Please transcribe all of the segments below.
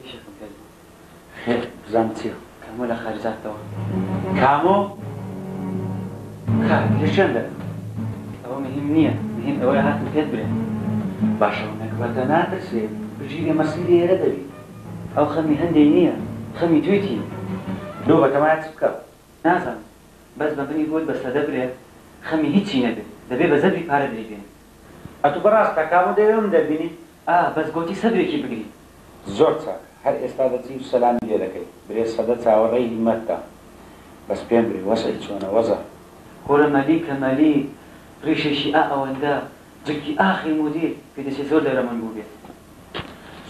ئیشێکم پێت بوو خێر بزانم چیە. کامۆ لە خارجاتەوە کامۆ کاک لە شوێن دەبم ئەوە مهم نییە مهم ئەوەیە هاتم پێت برێم باشە و نەگبەتە ناترسێ بژیرێ مەسیری ئێرە دەبی ئەو خەمی هەندێی نییە خەمی توی تی لۆ بە تەمایە چ بکەم نازانم بەس بە منی بۆت بە سەدە برێ خەمی هیچی نەبێ دەبێ بە زەبری پارە دەیبێنی. ئەتوو بەڕاستە کامۆ دەیەوێ من دەربینی ئا بەس گۆتی سەبرێکی بگری. زۆر چاک هەر ئێستا دەچی و سەلامی لێ دەکەی برێ سەدە چاوە ڕێی هیمەت دا بەس پێم برێ وەزعی چۆنە وەزع. کورە مەلیکە مەلیک ڕیشێکی ئا ئەوەندە جکی ئاخی مودیر پێ دەچێ زۆر دەرەمن بوبێت.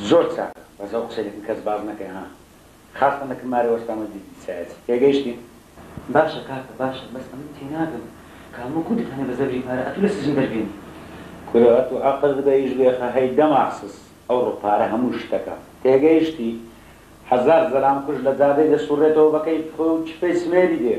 زۆر چاکە بەس ئەو قسەی دەکن کەس باس نەکەی ها. خاستان لە کمارە وەستامە دیدی سەیاتی تێگەیشتین. باشە کاکە باشە بەس ئەمن تێناگەم کە هەموو کوردت هەنێ بە زەبری پارە ئەتوو لە سجن دەربێنی. کورە ئەتوو ئەقرت بە ئیش بێخە هەی دەماخسس ئەوڕۆ پارە هەموو شتەکە تێگەیشتی هەزار زەلام کوژ لە جادەی دەسوڕێتەوە بە کەیفخۆی و چپەی سمێری دێ.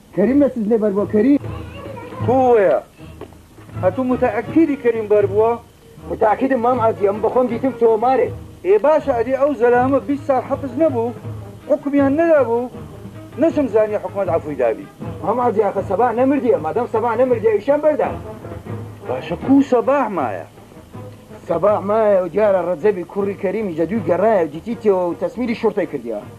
کەریم لە سجنێ بەر بوە کەریم. بووە ئەتوو متەئەکیدی کەریم بەر بووە؟ متەئەکیدم مام عەزیز ئەمن بەخۆم دیتم تۆمارێ. ئێ باشە ئەدی ئەو زەلامە بیست ساڵ حەپس نەبوو حوکمیان نەدابوو نەشم زانی حوکمەت عەفوی دابی. مام عەزیز ئاخر سەباح نەمردیە مادام سەباح نەمردیە ئیشیان بەردان. باشە کوو سەباح مایە؟ سەباح مایە و دیارە ڕەجەبی کوڕی کەریمیش لە دووی گەڕایە و دیتی تێوە و تەسمیری شوڕتەی کردیە.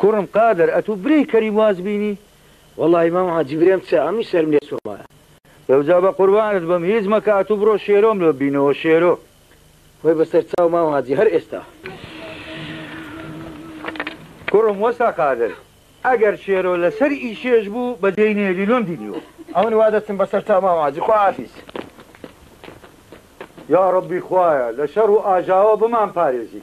کوڕم قادر ئەتوو برێی کەریم واز بینی؟ وەڵاهی مامە جی برێم چ ئەمنی سەرم لێ سوڕمایە. ئەوجا بە قوربانت بم هیچ مەکە ئەتوو بڕۆ شێرۆم لۆ بینەوە شێرۆ. خۆی بە سەر چاو مام حاجی هەر ئێستا. کوڕم وەستا قادر ئەگەر شێرۆ لە سەر ئی شێش بوو بە جێی نێلی لۆم دینیوە. ئەمن وا دەچم بە سەر چاو مام حاجی خوا حافیز. یاڕەبی خوایە لە شەڕ و ئاژاوە بمان پارێزی.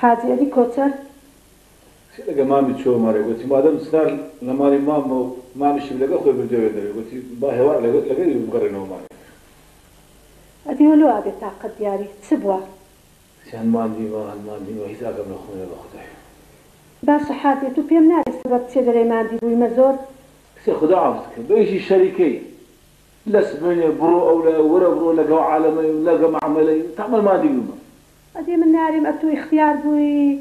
حاجی عەلی کۆچەر. چی لەگەڵ مامی چۆ مەرێ گۆتی مادەم چنار لە ماڵی ماممە و مامیشم لەگەڵ خۆی بردوە وێندەرێ گۆتی با هێوار لەگەڵی بگەڕێنەوە مامی. ئەدی وەلۆ ئەبێ تاقەت دیاری چ بوە؟ چەند ماندیمە هەند ماندیمە هیچ ئاگام لە خۆم نیە بە خودای. باشە حاجێ تو پێم نالی سەبەب چیە دەرێ ماندی بویمە زۆر؟ کچێ خودا عەفوت کە بەیژی شەریکەی لەس بێنێ بڕۆ ئەو لایە و وەرە بڕۆ لە گەو عالەمەی و نە گە مەعمەلەی و تەعمەل مادی بمە. ئەدی من ناریم ئەتوو ئیختیار بووی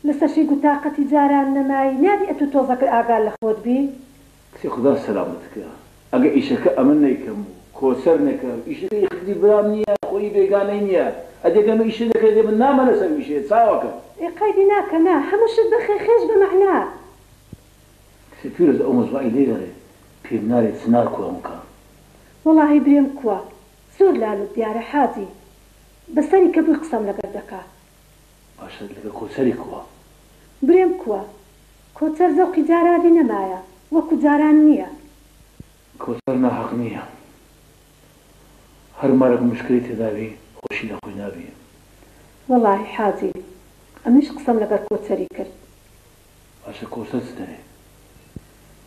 لسەشی گوو تاقەتی جاران نەمای نابی ئەتوو تۆزەکر ئاگا لەخۆت بی. کچێ خودا سەلامەت کە ئەگە ئیشەکە ئەمن نەیکەم و کۆچەر نەکەم ئیشەکە ی خدی برام نیە خۆ ی بێگانەی نیە ئەدی گەر من ئیشە نەکەی دێ من نامە لەسەر ویشەیە چاوەکەم. ئێ قەیدی ناکە نا هەموو شت بەخێ خێش بە مەعنا. سپیرت ئەو مزوعەی لێ گەڕێ پێم نالێ چنار کوا مکا. وەڵاهی برێم کوا زۆر لالوت دیارە حاجی بە سەری کە بوی قسەم لەگەر دەکا. باشە لەگەر کۆچەری کوا. برێم کوا کۆچەر زەوقی جارانی نەمایە وەکو جاران نیە. کۆچەر ناحەق نیە هەر مارەک مشکلی تێدا بی خۆشی لە خۆی نابی. وەڵاهی حاجی ئەمنیش قسەم لەگەر کۆچەری کرد باشە کۆچەر چ دەرێ؟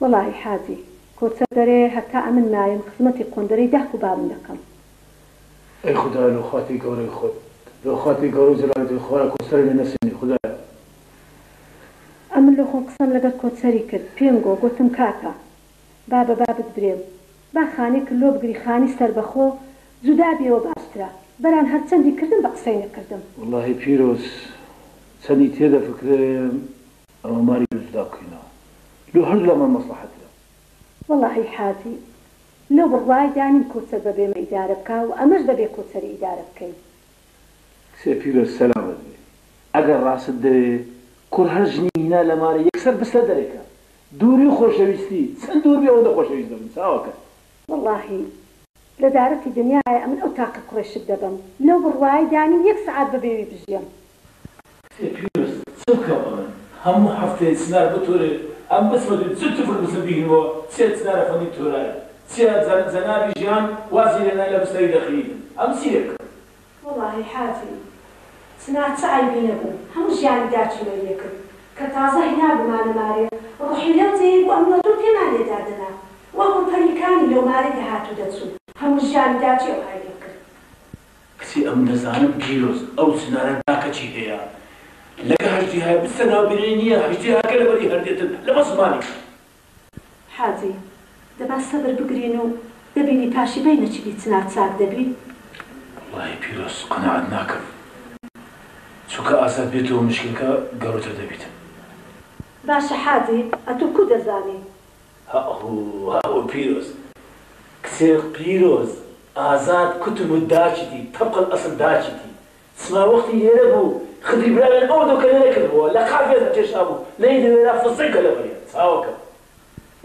وەڵاهی حاجی کۆچەر دەرێ هەتا ئەمن مایم خزمەتی قۆندەرەی داک و بابم دەکەم. ئەی خودایە لۆ خاتری گەورەی خۆت لۆ خاتری گەورە و جەلالی تۆی خوایە کۆچەرم لێ نەسێنی خودایە. ئەمن لۆ خۆم قسەم لەگەر کۆچەری کرد پێم گۆ گۆتم کاکە با بە بابت برێم با خانێکر لۆ بگری خانی سەربەخۆ جودا بێوە باشترە بەران هەر چەندی کردم بە قسەی نەکردم. وەڵاهی پیرۆز چەندی تێ دەفکرێم ئەوە ماری لۆ جودا بکەینەوە لۆ هەردوو لامان مەسڵەحەترە. وەڵاهی حاجی لەو بڕوایدا نیم کۆچەر بە بێمە ئیدارە بکا و ئەمەش دەبێ کۆچەری ئیدارە بکەین. کچێ پیرۆز سەلامەت بێ ئەگەر ڕاستت دەوێ کوڕ هەر ژنی هینا لە مارە یەکسەر بسلە دەرێکە دووری و خۆشەویستی چەند دوور بێ ئەوەندە خۆشەویست دەبم چاوەکەت. وەڵاهی لە دارەتی دنیایە ئەمن ئەو تاقە کوڕەی شت دەبەم لەو بڕوایەی دانیم یەک سەعات بە بێوی بژیەم. کچێ پیرۆز چ بکەم ئەمن هەموو هەفتەیە چنار بۆ تۆرێ ئەم بچمە دوو جل تفر بچم بیگرمەوە چیە چنارە فەندیم تۆرایە چیە جەنابی ژیان وازی لێنای لە بستەری دەخییتن ئەم چیە بکەم وەڵاهی حاجی چنار چ عەیبی نەبوو هەموو ژیانی داکی مەریە کرد کە تازە هێنابوومانە مارێ ڕوحی لەو جێیەی بوو ئەمنۆ تۆ پێمان لێ دادەنا وەکو پەری کانی لۆ مارێ دەهات و دەچوو هەموو ژیانی داکی ئەو عەیبەی کرد. کچێ ئەم دەزانم پیرۆز ئەو چنارە داکە چی هەیە لەگە هەژدیهایە بچتە ناو بینەری نیە هەژدیهاکە لەبەری هەر دێتن لەبەر زمانی. حاجی، دە با سەبر بگرین و دەبینی پاشی بینە چ بی چنار چاک دەبی. وەڵاهی پیرۆز قەناعەت ناکەم چونکە ئازاد بێتەوە مشکلەکە گەورەتر دەبیت. باشە حاجی ئەتوو کو دەزانی. هەئهوو هەئهوو پیرۆز کچێ پیرۆز ئازاد کوتبوو داچیتی تەبقە الاسل داچیتی سما وەختی لێرە بوو خدری براوێن ئەوە دۆکەنەرە کردبووە لە قافیە دەکێشابوو نەی دەوێرا فززەی کە لە بەریان چاوەکەم.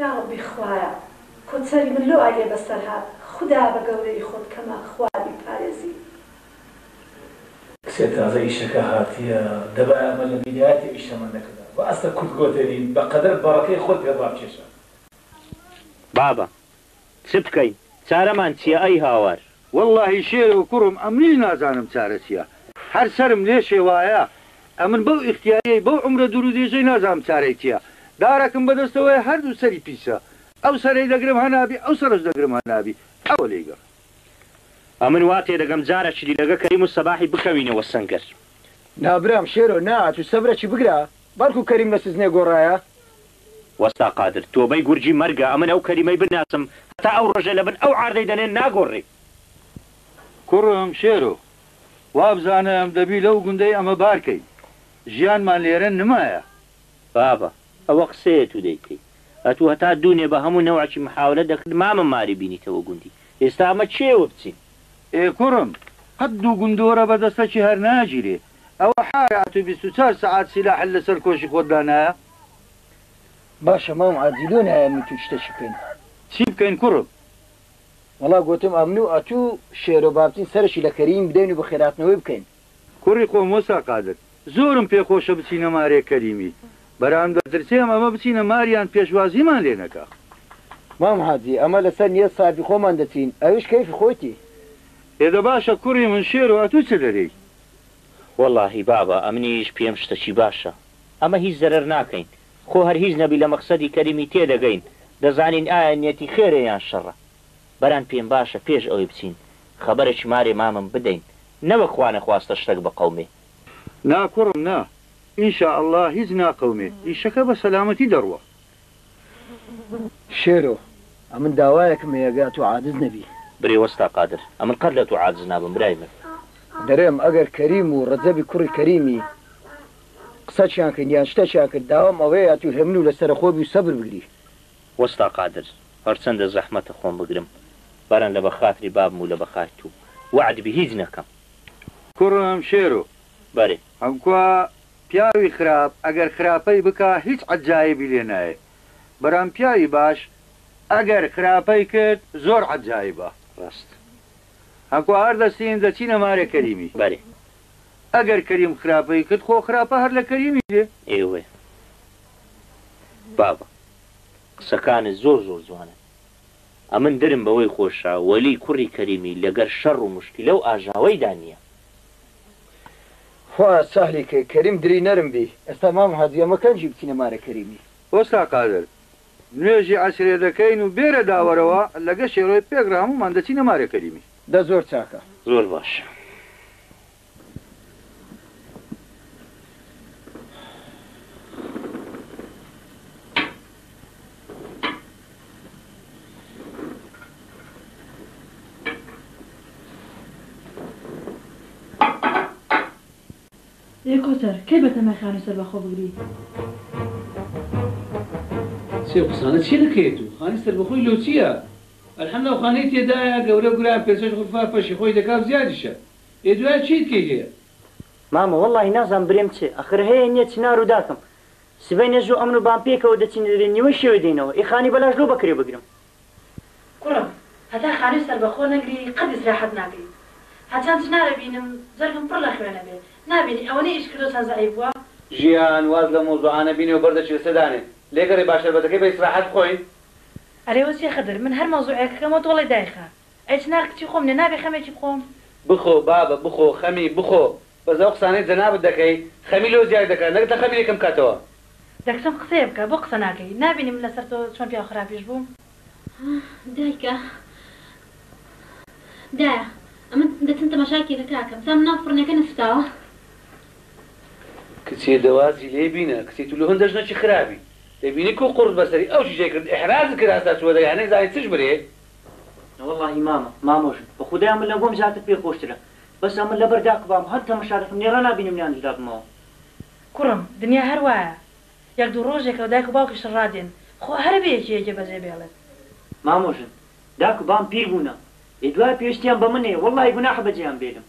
یاڕەبی خوایە کۆچەری من لۆ ئاگێ بەسەر هات خودا بە گەورەی خۆت کەمە خوا بیپارێزی. کچێ تازە ئیشەکە هاتیە دەبایە ئەمە لە بیدایەتی ئیش تەمەنەکەدا باسە کورد گۆتەری بەقەدەر بەڕەکەی خۆت پێ ڕابکێشە. بابە چ بکەین چارەمان چیە ئەی هاوار. وەڵاهی شێرۆ کوڕم ئەمنیش نازانم چارە چیە هەر سەرم لێ شێوایە ئەمن بەو ئیختیاریەی بەو عومرە دورو درێژەی نازانم چارەی چیە دارەکم بەدەستەوەیە هەردوو سەری پیسە ئەو سەرەی دەگرم هەنابی ئەو سەرەش دەگرم هەنابی ئەوە لێی گەڕێ. ئەمن وا تێدەگەم جارە شلی لەگە کەریم و سەباحی بکەوینەوە سەنگەر. نا برام شێرۆ نا ئەتوو سەبرەکی بگرە بەڵکو کەریم لە سجنێ گۆڕایە. وەستا قادر تۆبەی گورجی مەرگە ئەمن ئەو کەریمەی بنناسم هەتا ئەو ڕۆژەی لەبن ئەو عاردەی دەنێن ناگۆڕی. کوڕم شێرۆ وابزانم دەبی لەو گوندەی ئەمە بار کەی ژیانمان لێرە نمایە. بابە ئەوە قسەیە تو دەیکەی ئەتو هەتا دونێ بە هەمو نەوعەکی محاولە دەکرد مامە ماری بینیتەوە گوندی ئێستا ئەمە چێوە بچین. ئێ کوڕم قەت دوگوندۆرە بەدەسەکی هەر ناگیرێ ئەوە حارە ئەتو بیست و چار سەعات سیلاحت لەسەر کۆشی خۆت دانایە. باشە مام عادی لۆ نایە من تو چتەکی بکەین. چی بکەین کوڕم؟ وەڵا گۆتم ئەمن و ئەتو شێرۆ بابچین سەرەکی لە کەریم بدەین و بەخێراتنەوەی بکەین. کوڕی خۆم وەستا قادر زۆرم پێ خۆشە بچینە مارێ کەریمی بەران دەترسێم ئەمە بچینە ماریان پێشوازیمان لێ نەکا. مام حاجی ئەمە لەسەر نیەت سافی خۆمان دەچین ئەویش کەیفی خۆیتی. ئێ دە باشە کوڕی من شێرۆ ئەتو چ دەرێی؟ وەڵاهی بابە ئەمنیش پێم شتەکی باشە ئەمە هیچ زەرەر ناکەین خۆ هەر هیچ نەبی لە مەقسەدی کەریمی تێدەگەین دەزانین ئایا نیەتی خێرە یان شەڕە بران پێم باشە پێش ئەوەی بچین خەبەرەکی مارێ مامم بدەین نەوەک خوا نەخواستە شتەک بقەومێ. نا کوڕم نا ان شاء اللە هیچ ناقەومێ ئیشەکە بە سەلامەتی دەڕوا شێرۆ، ئەمن داوایەکم هەیە گا تۆ عاجز نەبی. برێ وەستا قادر، ئەمن قەت لە تۆ عاجز نابم برای من. دەرێم ئەگەر کەریم و رەجەبی کوڕی کەریمی قسەکیان کرد یان شتەکیان کرد داوام ئەوەیە تو هێمنو لە سەرە خۆ بی و سەبر بگری. وەستا قادر، هەرچەندە زەحمەتە خۆم بگرم بەرن لە بەخاتری بابم و لە بەخای تو وەعد بی هیچ نەکەم. کوڕم شێرۆ. بەرێ. حمکوا پیاوی خراپ ئەگەر خراپەی بکا هیچ عەجایبی لێ نایێ برام پیاوی باش ئەگەر خراپەی کرد زۆر عەجایبە ڕاست هە کوا هەر دەستین دەچینە مارێ کەریمی بەلی ئەگەر کەریم خراپەی کرد خۆ خراپە هەر لە کەریمی دێ. ئێوەیە بابە قسەکانت زۆر زۆر جوانن ئەمن درم بەوەی خۆشە وەلی کوڕی کەریمی لەگەر شەڕ و مشکلەو ئاژاوەیدا نیە خوایە سەهلی کەی کەریم دری نەرم بی. ئێستا مام هادی ئەمە کەنجی بچینە مارە کەریمی. ئۆستا قادر نوێژی عەسرێ دەکەین و بێرە داوەرەوە لەگە شێرۆی پێک رە هەموومان دەچینە مارە کەریمی. دە زۆر چاکە. زۆر باش. ئێ کۆسەر کەی بەتەمای خانوی سەربەخۆ بگری. چی ئەو قسانە چیە دەکەیت و خانی سەربەخۆی لۆ چیە الحمد ئەو خانەی تێدایە گەورە گورە پێنج شەش غرفە فەرشی خۆی دەکا و زیادیشە ئێ دوایە چیت کەی هەیە. مامە وەڵاهی نازام برێم چێ ئەخر هەیە نیە چنارو داکم سبەینێ زوو ئەمن و بام پێکەوە دەچین دەبێ نیوەی شەوێ دێینەوە ئێ خانی بەلاش لۆ بەکرێ بگرم. کوڕم هەتا خانوی سەربەخۆ نەگری قەت ئیسراحەت ناکەی هەرچەند چنارە بینم جەرگم پڕ لە خوێنە بێ نابینی ئەوەنەی ئیش کردوە چەند زەعیف بوە. ژیان واز لەم مەوزوعانە بینێ و بەردە چلسە دانێ لێگەڕێ با شەربەتەکەی بە ئیسراحەت بخۆین. ئەرێ وەچێ خدر من هەر مەوزوعێک کەمەوە تۆڵەی دایخە ئەی چنار کچی خۆم نیە نابێ خەمێکی بخۆم. بخۆ بابە بخۆ خەمی بخۆ بەس ئەو قسانەی جەنابت دەکەی خەمی لۆ زیاد دەکات نەک دە خەمی لێ کەم کاتەوە. دەکچم قسەیە بکە بۆ قسە ناکەی نابینی من لەسەر تۆ چۆن پیاو خراپیش بووم. دایکە دایە ئەمن دەچم تەماشای کێکەکە ئەکەم تا مناڵ فڕنەکە نەسوتاوە. کچێ دە وازی لێ بینە کچێ تو لۆ هندە ژنەکی خرابی دەبینی کو قوڕت بەسەری ئەو چیژەی کرد ئیحرازت کرد هەستا چوە دەرێ هەنێ زانی چش برێ. نەوەڵاهی مامە مامۆژن بەخودای ئەمن لەگۆم زیاتر پێ خۆشترە بەس ئەمن لەبەر داک بام هەر تەمەشا دەکەم نێرا نابینم نیان جودا بمەوە. کوڕم دنیا هەر وایە یەک دوو ڕۆژێکەوە دایک و باوکیشت ڕادێن خۆ هەرە بێ یەکێ یەکێ بەجێ بێڵێت. مامە ژن داک و بام پیر بوونە ئێ دوایە پێویستیان بە من هەیە وەڵاهی گوناحە بەجێیان بێلم.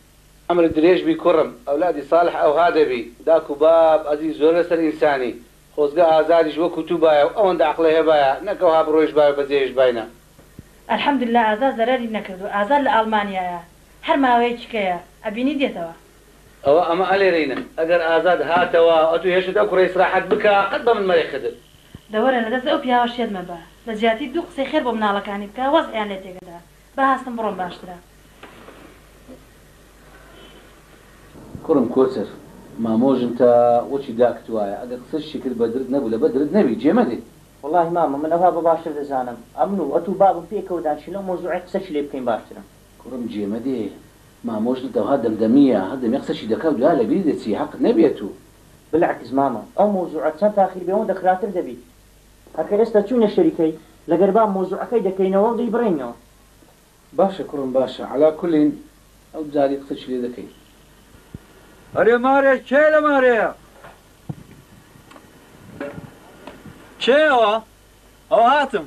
عەمرت درێژ بی کوڕم ئەولادی ساڵح ئەوها دەبی داک و باب ئەزیز زۆر لەسەر ئینسانی خۆزگە ئازادیش وەکو تو بایە و ئەوەندە عەقڵێ هەبایە نەک ئەوها بڕۆیش بایە و بەجێیش باینە. الحمدللە ئازاد زەرەری نەکردوە ئازاد لە ئاڵمانیایە هەر ماوەیەکیکەیە ئەبینی دێتەوە. ئەوە ئەمە ئەلێرەینە ئەگەر ئازاد هاتەوە ئەتو هێشت ئەو کوڕە ئیسراحەت بکە قەت بەمن مەرێ خدر. دەوەرە لەدەست ئەو پیاوە شێت مەبە لەجیاتی دوو قسەی خێر بۆ مناڵەکانی بکە وەزعیان لێ تێکەدە با هەستم بڕۆم باشترە. کوڕم کۆچەر مامۆ ژن تا وەکی داکت وایە ئەگەر قسەی شتی کرد بەدرت نەبوو لەبەر درت نەبی جێ مەگری. وەڵاهی مامە من ئەوها بەباشتر دەزانم ئەمن و ئەتوو بابم پێکەوە دانیشین لەو مەوزوعەی قسەکی لێ بکەین باشترە. کوڕم جێ مەدێ مامۆ ژنت ئەوها دەمدەمییە هەر دەمێ قسەکی دەکا و دوایە لەبیری دەچی هەقت نەبی ئەتوو. بلەعکس مامە ئەو مەوزوعە چەن تاخیر بێ ئەوەندە خراتر دەبی. ئەکە ئێستا چوینە شەریکەی لەگەر با مەوزوعەکەی دەکەینەوەو دەیبڕێینەوە. باشە کوڕم باشە عەلا کولین ئەو جاری قسەشی لێ دەکەین. ئەرێ مارێ کێ لە مارێیە. کێ ئەوە؟ ئەوە هاتم.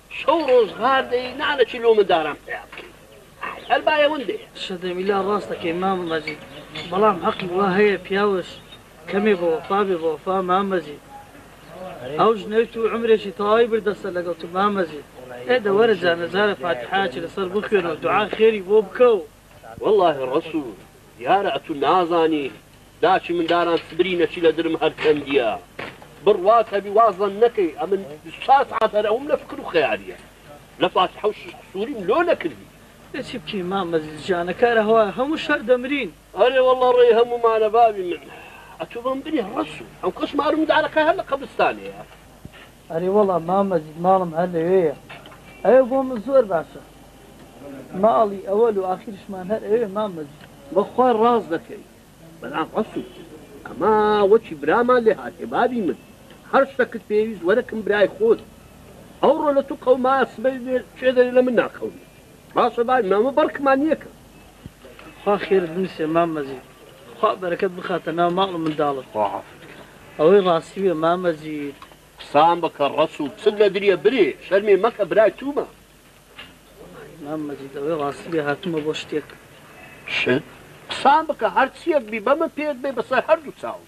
شەو ڕۆژ غار دەی نانە چی لۆ منداران پەیا بکەی ئای هەر بایەون دێ. شەدەمیلا ڕاست دەکەی مامە مەجید بەڵام هەقی وا هەیە پیاوش کەمێ بە وەفا بێ بە وەفا مام مەجید ئەو ژنەی تو عومرێکی تەوای بردەسە لەگەڵ تو مام مەجید ئێ دە وەرە جا نەجارە فاتیحایەکی لەسەر بخوێنەو دوعا خێری بۆ بکەو وەڵا هی ڕەسو دیارە ئەتو نازانی داکی من داران سبری نەچی لە درم هەر چەندیە بڕ وات هەبی وا زەن نەکەی ئەمن بیست چوار سەعات هەر ئەوم لە فکر و خەیالیە لە فاتحە و شیش قسوریم لۆ نەکردی ئێ چی بکەین مامە زیز جانە کارە هەوا هەمووش هەر دەمرین. ئەرێ وەڵا ڕێی هەموومانە باوی من ئەتو بەم بری ڕەسو ئەو کەس مارم دارەکە هەر لە قەبرستانێیە. ئەرێ وەڵا مام مەجید ماڵم هەر لەوێیە ئەوێ بۆ من زۆر باشە ماڵی ئەوەل و ئاخیرشمان هەر ئەوێ مام مەجید. بەخوا ڕاست دەکەی برام ڕەسوڵ ئەمە وەکی برامان لێ هاتێ بابی من هەر شتەکت پێویست وەرە کم برای خۆت ئەوڕۆ لە تو قەومایە سبەی لێ کێ دەرێ لە من ناقەومی باشە بابی من ئەمە بەڕکمان نیەکەم. خوا خێرت بنوسێ مام مەجید. خوا بەرەکەت بخاتە ناو ماڵ و منداڵت. خوا عافت کا. ئەوەی ڕاستیە مامە جیت. قسان بکە ڕەسوڵ چل لەدریە برێ شەرمێ مەکە برای تومە. وەڵاهی مام مەجید ئەوەی ڕاستبێ هاتومە بۆ شتێک. شت؟ قسان بکە هەرچیەک بی بەمن پێت بێ بەسەر هەردوو چاوم.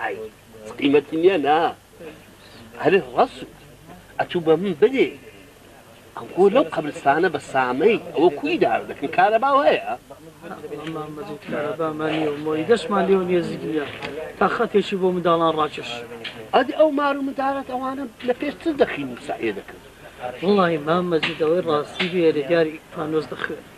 ئای قیمەتی نیە نا هەرێ ڕەسوو ئەتوو بە من بدێ ئەوگۆ لەو قەبرستانە بە سامەی ئەوە کوی دار دەکەن کارەبا هەیە کارەبامانیەوەی دەستمان لێ نێزیک نیە تا خەتێکی بۆ منداڵان ڕاکێش ئەدی ئەو مار و مندارەت ئەوانە لە پێش چ دەخین ساێ دەکرد وڵی مامەزیدەوەی ڕاستی بێرە دیاری پانۆز دەخوێن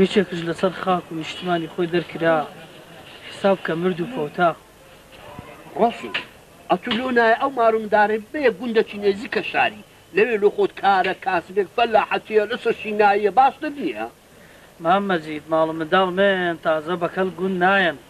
یەکێکش لەسەر خاک و نیشتمانی خۆی دەرکرا حیساب کە مرد و فەوتا. ڕۆسین، ئەتوو لۆ نایە ئەو مار و مندارەی ببەیە گوندەکی نێزیکە شاری، لەوێ لۆ خۆت کارە، کاسبێک، فەلاحەتیە، لەسەر شیناییە، باشتر نیە؟ مام مەجید، ماڵ و منداڵ مەیەن تازە بەکەڵک گوند نایەن.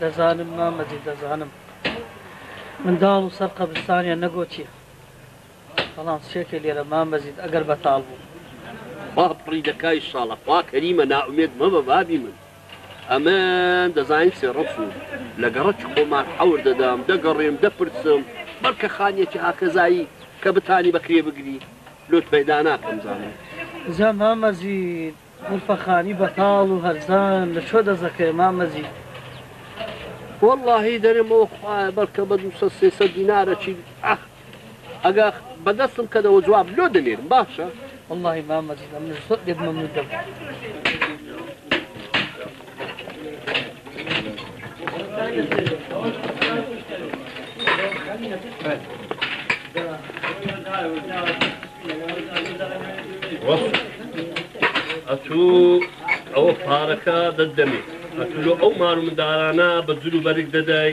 دەزانم مامە جی دەزانم منداڵ و سەر قەبرستانیان نەگۆتیە بەڵام سێکە لێرە مامە جی ئەگەر بەتاڵ بوو. با پڕی دەکای شاڵە خوا کەریمە نائومێد مەبە بابی من ئەمن دەزانیت سێ ڕەچ و لە گەڕەکی خۆمان حەور دەدەم دەگەڕێم دەپرسم بەڵکە خانیەکی هاکەزایی کە بتانی بەکرێ بگری لۆت پەیدا ناکەم زانم. جا مامە جی قوڵپە خانی بەتاڵ و هەرزان لە چۆ دەزەکەێ مام مەجید. وەڵاهی دەرێم ئۆ خوایە بەڵکە بە دووسەد سێسەد دینارە چی ئەخ ئەگا بە دەستم کەدەوە جواب لۆ دەنێرم باشە. وەڵاهی مام مەجید ئەمنیش زۆر لێت مەمنون دەبم. ئەتوو ئەوە پارەکە دەدەمێت ئەتلو ئەو مار مندارانە بە جلو بەرگ دەدای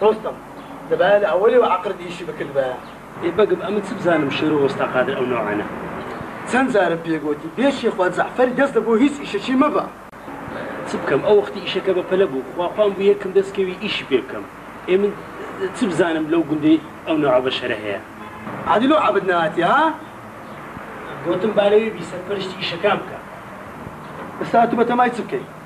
دۆستم دەبایە لە ئەوەلێوە عەقرت ئیشی بکردبایە. ئێ بەگم ئەمن چ بزانم شێرۆ وەستا قادر ئەو نەوعانە. چەند جارم پێ گۆتی بێ شێخوا جەعفەری دەست لە بۆ هیچ ئیشەکی مەبە. چ بکەم ئەو وەختی ئیشەکە بە پەلە بوو خوا پام بوو یەکم دەست کەوی ئیشی پێ بکەم ئێ من چ بزانم لەو گوندەی ئەو نەوعە بەشەرە هەیە. ئادی لۆ عەبت نەهاتی ها. گۆتم با لەوێ بی سەرپەرشتی ئیشەکان بکە. ئێستا ئەتوو بەتەمای چ بکەی.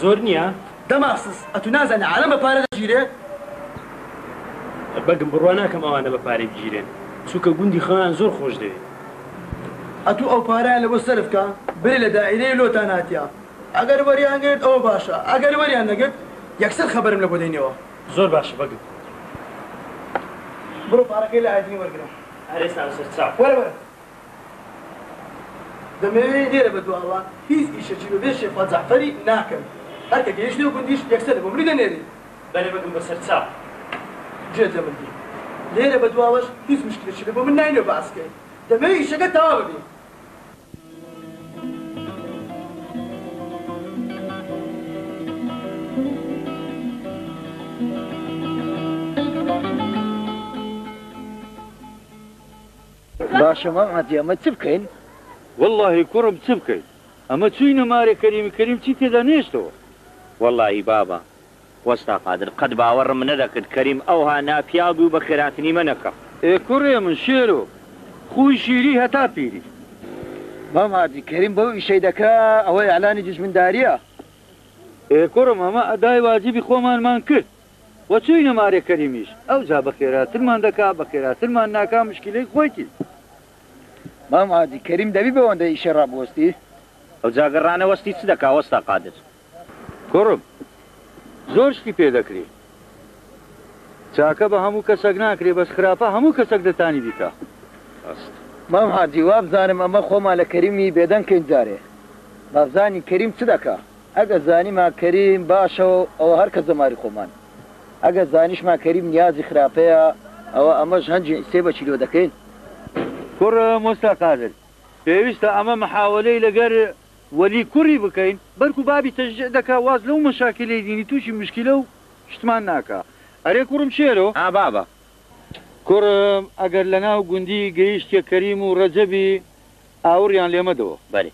زۆر نیە. دەماسس ئەتو نازانی عالەم بە پارە دەگیرێ؟ بەگم بڕوا ناکەم ئەوانە بە پارەی بگیرێن چونکە گوندی خۆیان زۆر خۆش دەوێ. ئەتو ئەو پارەیان لەوە سەرف کا برێ لە دائیرەیە لۆتان هاتیە ئەگەر وەریان گرت ئەوە باشە ئەگەر وەریان نەگرت یەکسەر خەبەرم لەبۆ دەینەوە. زۆر باشە بەگم. بڕۆ پارەکەی لە ئایدین وەرگرە. هەر ئێستا لەسەر چاو. وەرە وەرە. دەمەوێ لێرە بەدواوە هیچ ئیشەکی بە بێ شێخ فواد جەعفەری ناکەم هەر کە گەیشت نێو گوندیش یەکسەر بۆ ملی دەنێری. بەرێ بەگم بەسەر چا گوێت لە من بی لێرە بەدواوەش هیچ موشکلەکی بێ بۆ من نای نێو بەعسکەی دەمەوێ ئیشەکە تەوا ببی. باشە مام عەبدی ئەمە چ بکەین؟ وەڵاهی کوڕم چ بکەین ئەمە چووی نەمارێ کەریمی کەریم چی تێدا نەهێشتەوە. وەڵاهی بابە وەستا قادر قەت باوەڕم نەدەکرد کەریم ئەوها ناپیاو بی و بە خێراتنی مە نەکا. ئێ کوڕێ من شێرۆ خووی شیری هەتا پیری. مام عەبدی کەریم بەو ئیشەی دەکا ئەوە ئیعلانی دوژمنداریە. ئێ کوڕم ئەمە ئەدای واجبی خۆمانمان کرد. وە چوینە مارێ کەریمیش ئەوجا بە خێراترمان دەکا بە خێراترمان ناکا مشکیلەی خۆیتی. مام عادی کەریم دەبی بەوەندە ئیشەی ڕابوەستی؟ ئەوجا گەر ڕانەوەستی چ دەکا وەستا قادر. کوڕم زۆر شتی پێ دەکرێ چاکە بە هەموو کەسەک ناکرێ بەس خراپە هەموو کەسەک دەتانی بیکا ڕاست. مام حاجی وابزانم ئەمە خۆمان لە کەریمی بێدەنگ کەین جارێ بابزانین کەریم چ دەکا. ئەگەر زانیمان کەریم باشە ئەوە هەر کەس دەماری خۆمان ئەگەر زانیشمان کەریم نیازی خراپەیە ئەوە ئەمەش هەنجی سێ بە کیلۆ دەکەین. کوڕ مۆستا قادر پێویستە ئەمە محاوەلەی لەگەر وەلی کوڕی بکەین بەلکو بابی تەشجیع دەکا واز لەو مەشاکیلەی دینی توشی مشکیلە و شتمان ناکا ئەرێ کوڕم شێرۆ. ها بابە کوڕم ئەگەر لەناو گوندی گەیشتیە کەریم و رەجەبی ئاوڕیان لێ مەدەوە. بەلێ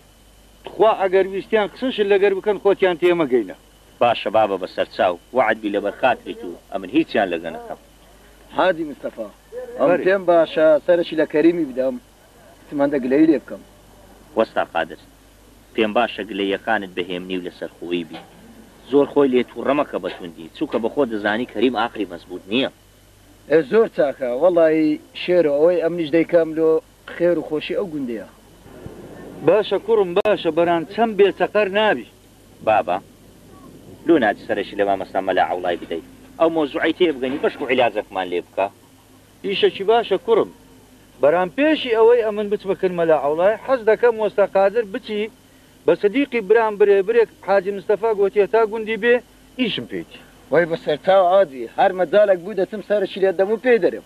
تخوا ئەگەر ویستیان قسەشت لەگەر بکەن خۆتیان تێ مەگەینە. باشە بابە بەسەرچاو وەعد بی لەبەر خاتری تو ئەمن هیچیان لەگە نەکەم. حاجی مستەفا ئەم پێم باشە سەرەکی لە کەریمی بدەم سمەندە گلەیی لێ بکەم. وەستا قادر پێم باشە گلەییەکانت بە هێمنی و لە سەرخۆیی بی زۆر خۆی لێ توڕە مەکە بە توندی چونکە بە خۆت دەزانی کەریم ئاقلی مەزبوت نیە. ئێ زۆر چاکە وەڵایی شێرۆ ئەوەی ئەمنیش دەیکەم لۆ. خێر و خۆشی ئەو گوندەیە. باشە کوڕم باشە بەران چەم بێ چەقەر نابی. بابە لۆ ناچی سەرەکی لە مامۆستا مەلا عەوڵای بدەی ئەو مەوزوعەی تێ بگەنی بەشک و عیلاجەکمان لێ بکا. ئیشەکی باشە کوڕم بەران پێشی ئەوەی ئەمن بچمە کن مەلا عەوڵای حەز دەکەم وەستا قادر بچی بە سدیقی برام برێ برێک حاجی مستەفا گۆتیە تا گوندی بێ ئیشم پێتی. وەی بەسەرتاو عادی هەر مەجالەک بوو دەچم سەرەکی لێ دەم و پێی دەرێم.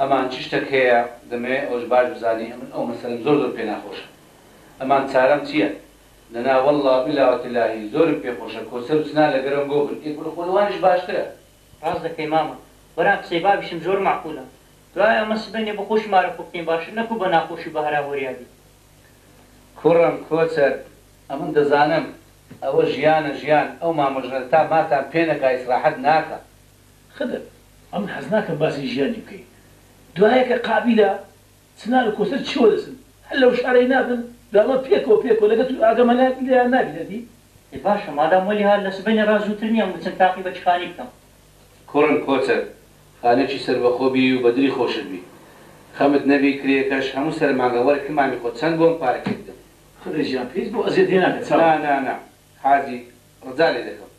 ئەمان چ شتەک هەیە دەمەوێ ئەوەش باش بزانی ئەمن ئەو مەسەلەم زۆر زۆر پێ ناخۆشە ئەمان چارەم چیە دەنا واللە وباللە وتللاهی زۆرم پێ خۆشە کۆسەر و سنا لەگەرەوم گۆ بن ئێ گورە خۆ لەوانیش باشترە. ڕاست دەکەی مامە برام قسەی بابیشم زۆر مەعقولە دوای ئەمە سبەینێ بۆ خۆشی مارە خۆ بکەین باشتر نەکو بە ناخۆشی و بە هەرا هۆریا بین. کوڕم کۆچەر ئەمن دەزانم ئەوە ژیانە ژیان ئەو مامە ژنە تا ماتان پێ نەکا ئیسراحەت ناکا خدر، ئەمن حەز ناکەم باسی ژیانی بکەی دوایە کە قابیلە چنار و کۆسەر چیوە دەچن هەر لەو شارەی نابن دوامە پێکەوە پێکەوە لەگەل تو ئاگەمە لایەک لێیان نابی دەبی. ئێ باشە مادام وەلی هات لە سبەینێ ڕا زووتر نییە ئەم بچم تاقی بەچخانی بکەم. کوڕم کۆچەر خانەکی سەربەخۆ بی و بەدری خۆشت بی خەمت نەبی کرێکەش هەموو سەر مانگە وەرە کە مامی خۆت چەند بۆم پارەکێ بدەم. خدر گیان پێیت بۆ ئەزیەت لێ ناکە چاو. نا نا نا حاجی ڕجا لێ دەکەم.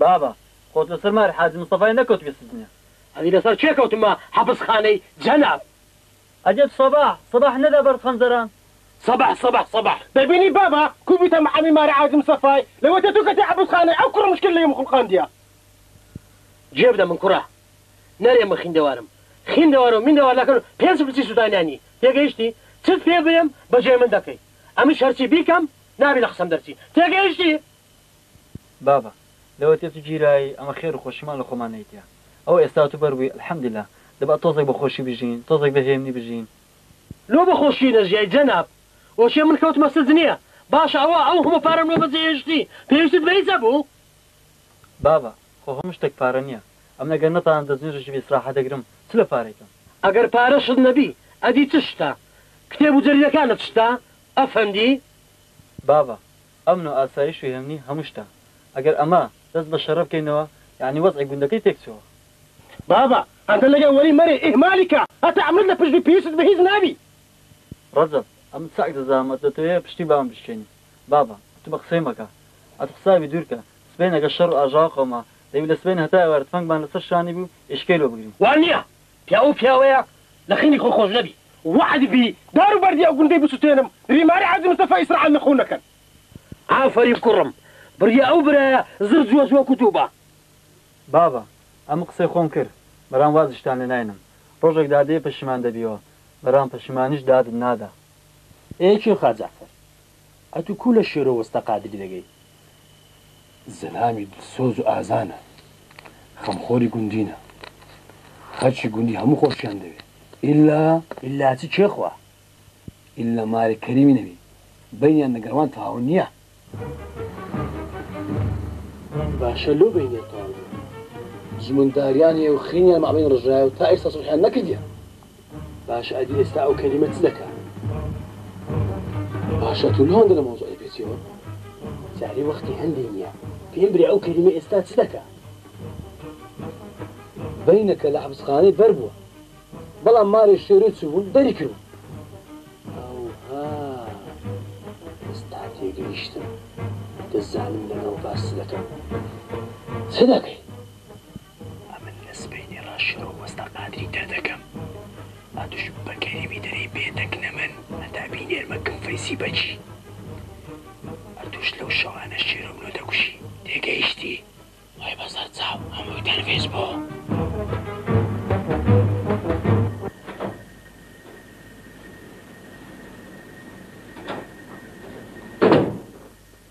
بابە خۆت لەسەر ماری حاجی مستەفای نەکەوتبی سجنێ. ئەنی لەسەر کێ کەوتمە حەپس خانەی جەناب. ئەجەب سەباح سەباح نەدا بەرد خەنجەران. سەباح سەباح سەباح دەبینی بابە کو بویتە محامی ماری حاجی مستەفای لە وەتە تو کەتە حەپس خانەی ئەو کوڕە مشکل لیم خوڵقاندیە. جوێ بدە من کوڕە نەرێ من خیندەوارم خیندەوار و میندەوار ناکەن و پێنج پرچی سودانیان نی تێگەیشتی چت پێ برێم بە جێ من دەکەی ئەمنیش هەرچی بیکەم نابی لە قسەم دەرچی تێگەیشتی. بابە لەوە تێ تو گیرای ئەمە خێرو خۆشیمان لە خۆمان نەیتیە ئەوە ئێستا تو بەربوی الحمدللە دەبئ تۆزێک بە خۆشی بژین تۆزێک بە هێمنی بژین. لۆ بە خۆشی نەژیای جەناب. ئۆکێ من کەوتمە سجنیە باشە ئەوە ئەو هەموو پارەم لۆ بەجێ هێشتی پێویستت بە هیچ هەبوو؟ بابە خۆ هەموو شتەک پارە نیە ئەمن ئەگەر نەتانم دەست نوێژێکی بێ ئیسراحەت دەگرم چ لە پارەیکەم. ئەگەر پارەشت نەبی ئەدی چ شتە؟ کتێب و جەریدەکانت شتە ئەفەندی؟ بابە ئەمن و ئاسایش و هێمنی هەموو شتە. ئەگەر ئەمە دەست بە شەرە بکەینەوە یانی وەزعی گوندەکەی تێک چووە. بابە هەتە لەگەڵ وەری مەرێ ئیهمالی کە هەتە ئەمن لە پشت پیشت بە هیچ نابی. ڕەجەب ئەمن چاک دەزانم ئەت دەتەوێ پشتی بابم بشکێنی. بابە ئەت بە قسەی مەکە. ئەت حسابی دوور کە. سبەین ئەگەر شەڕ و ئاژاوە قەوما دەبی لە سبەین هەتا ئێوارە تفەنگمان لە سەر شانی بی و ئیشکەی لۆ بگرین. وا نییە. پیاو پیاوەیە لە خەمی خۆی خۆش نەبی. وەعد بی دار و بەردی ئەو گوندەی بسوتێنم ریماری حاجی مستەفا ئیسرائیل نە خون نەکەن. ئافەرین کوڕم بڕیە ئەو برایە زڕ جوەز وەک و تو با. بابە ئەم قسەی خۆم کر برام وازشتان لێ ناینم ڕۆژەک دادێ پەشیمان دەبیەوە برام پەشیمانیش دادت نادا. ئێ کێ خاجەعفەر ئەتو کو لە شێرۆ وەستا قادری دەگەی. زەلامی دلسۆز و ئازانە خەمخۆری گوندینە خەلکی گوندی هەموو خۆشیان دەوێ ئیلا. ئیلا چ کێ خوا ئیلا مارێ کەریمی نەبی بەینیان لەگەر وان تەواو نیە. باشە لۆ بەینیان تەواو نیە؟ زمنداریان هەیە و خینیان مابەین ڕژایە و تا ئیستا سوڵحیان نەکردیە. باشە ئەدی ئێستا ئەو کەلیمە چ دەکا؟ باشە تو لەوەندە لە مەوزوعی پێچیەوە جارێ وەختی هەندی نییە پێم برێ ئەو کەلیمە ئێستا چ دەکا؟ بەینەکە لە حەبسخانەی بەر بووە بەڵام مارێ شێرۆی چوبوون دەری کرد ئێستا تێگەیشتم دەزانم لەگەڵ باس دەکەم چ دەکەی؟ ئەمن لە سبەینێ ڕا شێرۆ مەستە قادری تر دەکەم با دوژمن بە کەریمی دەرێی بێ دەنگ نەمن هەتا بینێرمە کم فەیسی بەکی ئەتوش لەو شەوانە شێرۆ منۆ دەکوشی تێگەیشتی؟ وای بە زەرد چاو هەمووی تەرفیس بوو.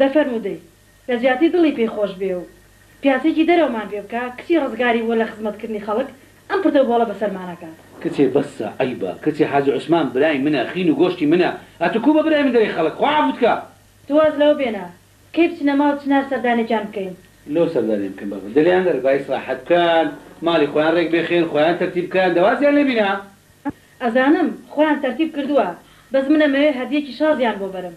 دە فەرموو دەی لە جیاتی دڵی پێی خۆش بێ و پیاسێکی دەرەومان پێ بکا کچی ڕزگاری بووە لە خزمەت کردنی خەڵک ئەم پردە و بۆڵە بەسەرمان ئەکات. کچێ بەسە عەیبە کچێ حاجی عوسمان برای منە خین و گۆشتی منە ئەتو کو بە برای من دەرێی خەڵک خوا عەفوت کا. تۆ واز لەوە بێنە کەی بچنە ماڵ چنار سەردانێکیان بکەین. لۆ سەردانیان بکەین بابە دلیان نەرێ با ئیسراحەت بکەن ماڵی خۆیان رێک بێخێن خۆیان تەرتیب بکەن دە وازیان لێ بینە. ئەزانم خۆیان تەرتیب کردوە بەس من ئەمەوێ هەدیەکی شازیان بۆ بەرم.